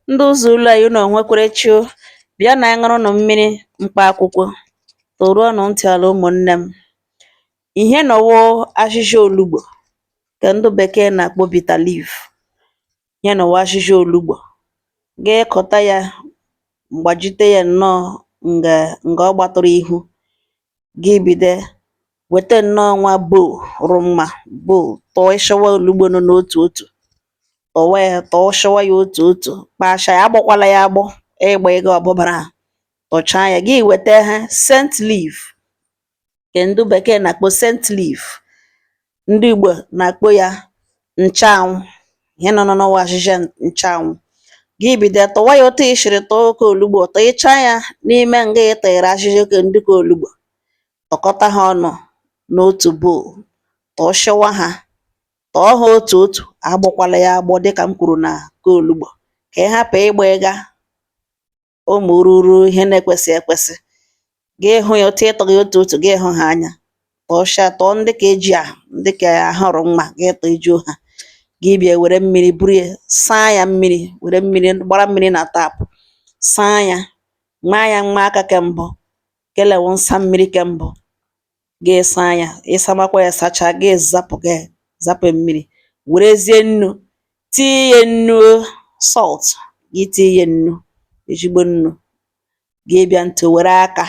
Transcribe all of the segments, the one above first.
Ndị ụzọ ụlọ anyị unu nwekwara chi o, bịa na anyị ṅụrụnụ mmiri mkpa akwụkwọ, toruonụ ntị ala ụmụnne m. Ihe nọ wụ ahịhịa olugbo nke ndị bekee na-akpọ bitter leaf. Ihe nọ wụ ahịhịa olugbo. Ga-ekọta ya, gbajite ya nnọọ nga ọ gbatụrụ ihu. gị bido weta nnọọ nwa bowl rụ mma bowl tọọshịwa olugbo nọ n'otu otu tọwa ya tọọshịwa ya otu otu kpashaa ya agbọkwala ya agbọ ịgba ego ọbụbara a tọchaa ya gị weta ha scent leaf nke ndị bekee na-akpọ scent leaf ndị Igbo na-akpọ ya nchanwụ ihe nọ n'ọnwa ahịhịa nchanwụ gị bido tọwa ya otu i shiri tụọ ke olugbo tọchaa ya n'ime nga ị tọnyere ahịhịa ke ndị ke olugbo tọkọta ha ọnụ n'otu bowl tọọshịwa ha tọọ ha otu otu agbọkwala ya agbọ dịka m kwuru na ke olugbo ka ị hapụ ịgba ịga ụmụ ruru ihe na-ekwesị ekwesị gị hụ ya otu ị tọ ha otu otu gị hụ ha anya tọọcha tọọ ndị ke eji ahụ ndị ke ahụ rụ mma gị tọjuo ha gị bịa were mmiri buru ya saa ya mmiri were mmiri gbara mmiri na tap saa ya maa ya mma aka ke mbụ kele wụ nsa mmiri ke mbụ gị saa ya ị samakwa ya sachaa gị zapụ gị zapụ mmiri werezie nnu tinye ya nnu salt gị tinye ya nnu ezigbo nnu gị bịa ntị were aka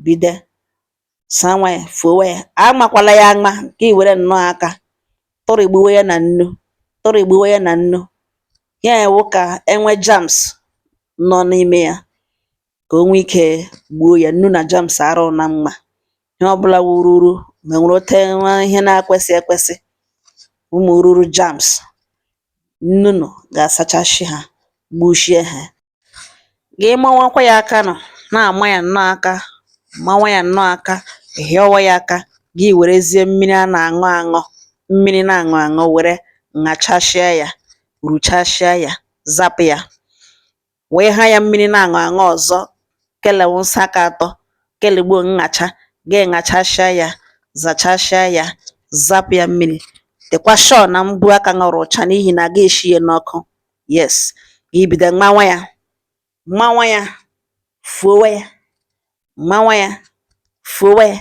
bido sawa ya fowe ya amakwala ya ama gị were nnọọ aka tụrịgbuwe ya na nnu tụrịgbuwe ya na nnu ya wụ ka e nwe germs nọ n'ime ya ka o nwee ike gbuo ya nnu na germs arụ na mma ihe ọbụla wụ ururu ma nwere ote nwa ihe na-ekwesị ekwesị ụmụ ruru germs nnu nọ ga-asachashi ha gbushie ha gị mawakwa ya aka nọ na-ama ya nnọọ aka mawa ya nnọọ aka hịọwa ya aka gị werezie mmiri a na-aṅụ aṅụ mmiri na-aṅụ aṅụ were ṅachashịa ya ruchashịa ya zapụ ya wee ha ya mmiri na-aṅụ aṅụ ọzọ kele wụ nsa ke atọ kele wụ nṅacha gị ṅachashịa ya zachashịa ya zapụ ya mmiri dịkwa sure na mbọ aka gị rụ ọcha n'ihi na a ga-eshi ya n'ọkụ yes gị bido mawa ya mawa ya fowe ya mawa ya fowe ya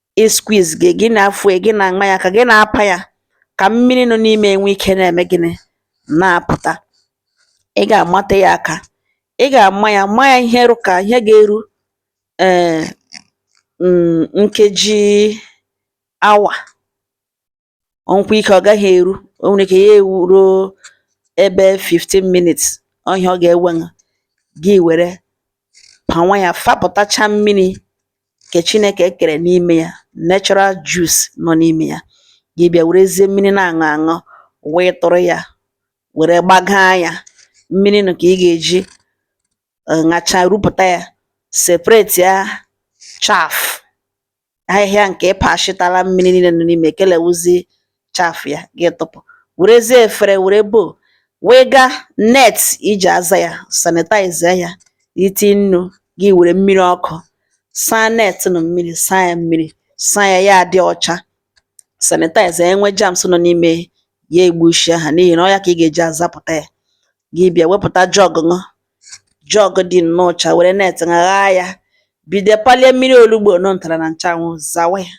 ị squeeze ya gị na-afọ ya gị na-ama ya aka gị na-apa ya ka mmiri nọ n'ime enwe ike na-eme gịnị na-apụta ị ga-amata ya aka ị ga-ama ya ma ya ihe rụ ka ihe ga-eru ee eh, mm, nkeji awa ọ nwekwa ike ọ gaghị eru o nwere ike ya eruo ebe 15 minutes ọ ihe ọ ga-ewe gị were pawa ya fapụtacha mmiri nke Chineke kere n'ime ya natural juice nọ n'ime ya gị bịa werezie mmiri na-aṅụ aṅụ wee tụrụ ya were gbagaa ya mmiri nụ ka ị ga-eji ṅacha rupụta ya separate ya chaff ahịhịa nke ị pashịtara mmiri niile nọ n'ime kele wụzi chaff ya gị tụpụ werezie efere were bowl wee gaa net i ji aza ya sanitize ya iti nnu gị were mmiri ọkụ saa net nụ mmiri saa ya mmiri saa ya ya adị ọcha sanitize e nwee germs nọ n'ime ya egbuchie ha n'ihi na ọ ya ka ị ga-eji azapụta ya gị bịa wepụta jug nụ jug dị nnọọ ọcha were net ṅaghaa ya bido palie mmiri olugbo nọ ntara na nchanwụ zawa ya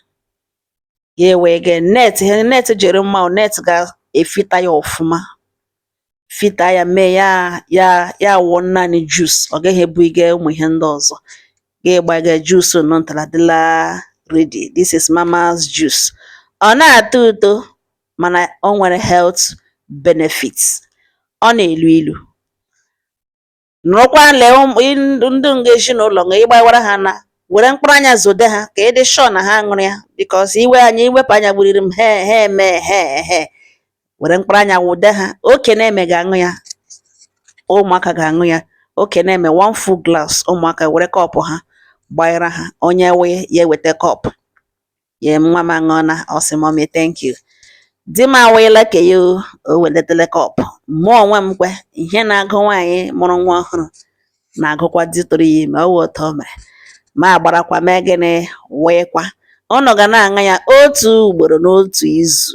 ya ewee gee net ihe net jiri mma net ga-efilter ya ọfụma filter ya mee ya wụọ naanị juice ọ gaghị ebu ịga ụmụ ihe ndị ọzọ gị agbaga juice nọ ntara dịla ready this is mama's juice ọ na-atọ ụtọ mana o nwere health benefits ọ na-elu ilu nụrụkwa lee ndị nga ezinụlọ nga ị gbawara ha na-ewere mkpụrụ anya zode ha ka ị dị sure na ha ṅụrụ ya because i wepụ anya gburirim he he eme he he were mkpụrụ anya wụde ha oke na-eme ga-aṅụ ya ụmụaka ga-aṅụ ya oke na-eme one full glass ụmụaka were kọpụ ha gbanyere ha onye wee ya eweta kọpụ ye nwa m aṅụọna ọ sị mommy thank you di m awụyela ke ya o weletele kọpụ mụ onwe m kwe ihe na-agụ nwaanyị mụrụ nwa ọhụrụ na-agụkwa di tụrụ ya ime ọ wụ otu o mere mụ agbarakwa mee gịnị wụịkwa ụnụ ga na-aṅụ ya otu ugboro n'otu izu